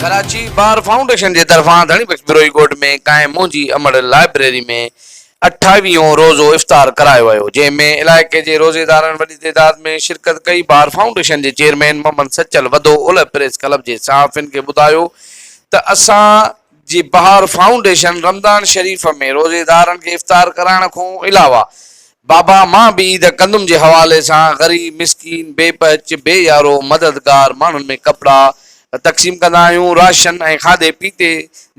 Karachi bar foundation جي طرفان ڌڻي بخش بروهي ڳوٺ ۾ قائم منهنجي امڙ لائبريري ۾ اٺاويهون روزو افطار ڪرايو ويو جنهن ۾ علائقي جي روزيدارن وڏي تعداد ۾ شرڪت ڪئي بار فائونڊيشن جي چيئرمين محمد سچل وڌو اولهه پريس ڪلب جي صحافين کي ٻڌايو ته اسان جي بار فائونڊيشن رمضان شريف ۾ روزيدارن کي افطار ڪرائڻ کون علاوه بابا مان به عيد ڪندم جي حوالي سان غريب مسڪين بي پهچ بي يارو مددگار ماڻهن ۾ ڪپڙا تقسيم ڪندا آهيون راشن ۽ کاڌي پيتي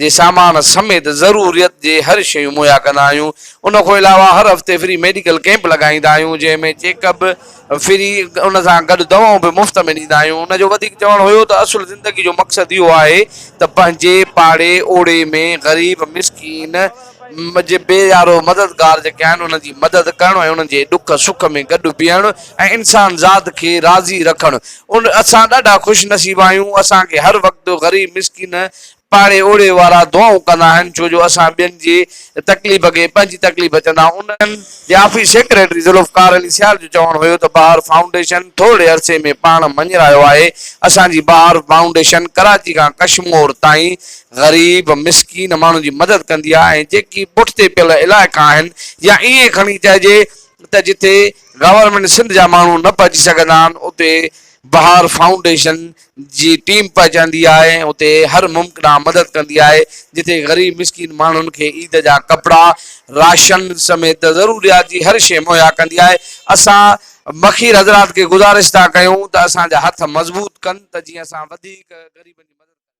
جي سامان سميت ضروريت جي هر شيون مهيا ڪندا آهيون ان کان علاوه هر هفتي فري ميڊيڪل ڪيمپ لڳائيندا آهيون جنهن ۾ چيڪ اپ ڦري ان سان گڏ دوائون به مفت ۾ ڏيندا آهيون. ان جو وڌيڪ چوڻ هيو ته اصل زندگي جو مقصد اهو آهي ته پنهنجي پاڙي اوڙي ۾ غريب، مسڪين جي بي يارو مددگار جيڪي آهن انهن جي مدد ڪرڻ ۽ انهن جي ڏک سک ۾ گڏ بيهڻ ۽ انسان ذات کي راضي رکڻ. اسان ڏاڍا خوش نصيب آهيون اسان کي هر وقت غريب مسڪين، پاڙي اوڙي وارا دعائون ڪندا آهن ڇو جو اسان ٻين جي تڪليف کي پنهنجي تڪليف چوندا آهيون انهن جي آفيس سيڪريٽري ذوالفقار علي سيال جو چوڻ هيو ته بهار فائونڊيشن ٿورڙي عرصي ۾ پاڻ مڃرايو آهي اسان جي بهار فائونڊيشن ڪراچي کان ڪشمور تائين غريب مسڪين ماڻهن جي مدد ڪندي آهي ۽ جيڪي پٺتي پيل علائقا آهن يا ائين کڻي چئجي ته جتي گورنمينٽ سنڌ جا ماڻهو نه پهچي سگهندا آهن اتي بهار فائونڊيشن جي ٽيم پهچندي آهي اتي هر ممڪنا مدد ڪندي آهي جتي غريب مسڪين ماڻهن کي عيد جا ڪپڙا راشن سميت ضروريات جي هر شيء مهيا ڪندي آهي اسان مخير حضرات کي گذارش ٿا ڪيون ته اسان جا هٿ مضبوط ڪن ته جيئن اسان وڌيڪ غريبن جي مدد ڪري سگهون.